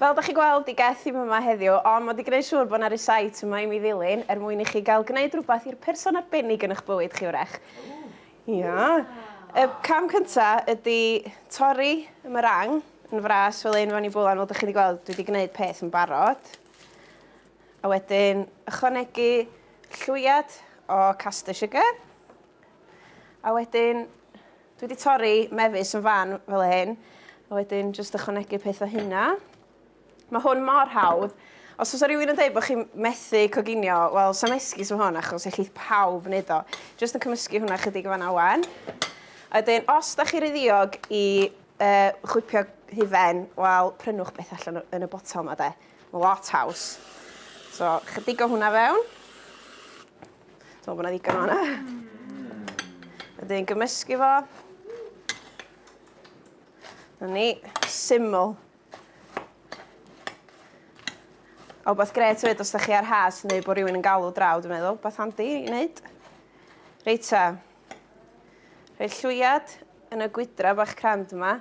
Fel dach chi'n gweld i Geth ddim yma heddiw ond mod i gneud siŵr bod 'na rysáit yma i mi ddilyn er mwyn i chi gael gneud rhywbeth i'r person arbennig yn ych bywyd chi wrach. Ia. Y cam cynta ydi torri y meringue yn fras fel hyn fewn i bwlan fel dach chi 'di gweld dwi 'di gneud peth yn barod. A wedyn ychwanegu llwyad o caster sugar. A wedyn Dwi wedi torri mefus yn fan fel hyn, a wedyn jyst ychwanegu peth o hynna. Mae hwn mor hawdd. Os oes rhywun yn dweud bod chi'n methu coginio, wel, sam esgus o hwn, achos eich pawb yn neud o. Jyst yn cymysgu hwnna chydig o fanna wan. A wedyn, os da chi ryddiog i uh, chwipio hufen, wel, prynwch beth allan yn y botel yma, de. Mae lot haws. So, chydig o hwnna fewn. Dwi'n meddwl bod yna ddigon o hwnna. Wedyn ni'n gymysgu fo. Dyna ni, syml. A wbeth gret hefyd os da chi ar has neu bod rhywun yn galw draw, dwi'n meddwl, beth handi i wneud. Reit ta. Rhoi llwyad yn y gwydra bach crand yma.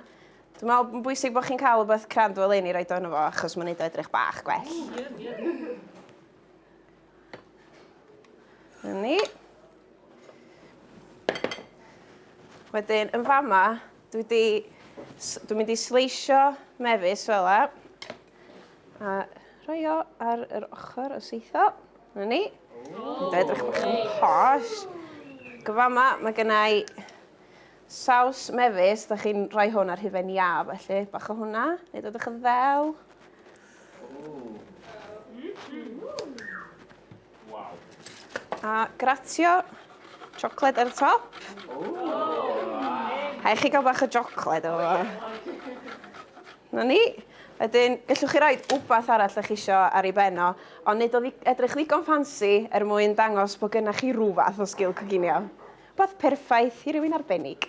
Dwi'n meddwl bod yn bwysig bod chi'n cael wbeth crand fel un i roed o'n efo, achos mae'n neud o edrych bach gwell. Yn ni. Wedyn, yn fama, dwi di... Dwi'n mynd i sleisio mefus fel la. A rhoi o ar yr ochr o seitho. Yn ni. Dwi'n edrych bach yn posh. Gyfama, mae gennau saws mefus. Da chi'n rhoi hwn ar hufen iaf, felly. Bach o hwnna. Neu dod o'ch yn ddew. A gratio siocled ar y top. Rhaid chi gael bach o siocled o fo. Na ni. Wedyn, gallwch chi roi wbath arall ydych chi eisiau ar ei ben o, ond nid o edrych ddigon ffansi er mwyn dangos bod gennych chi rhywfath o sgil coginio. Rhywbeth perffaith i rywun arbennig.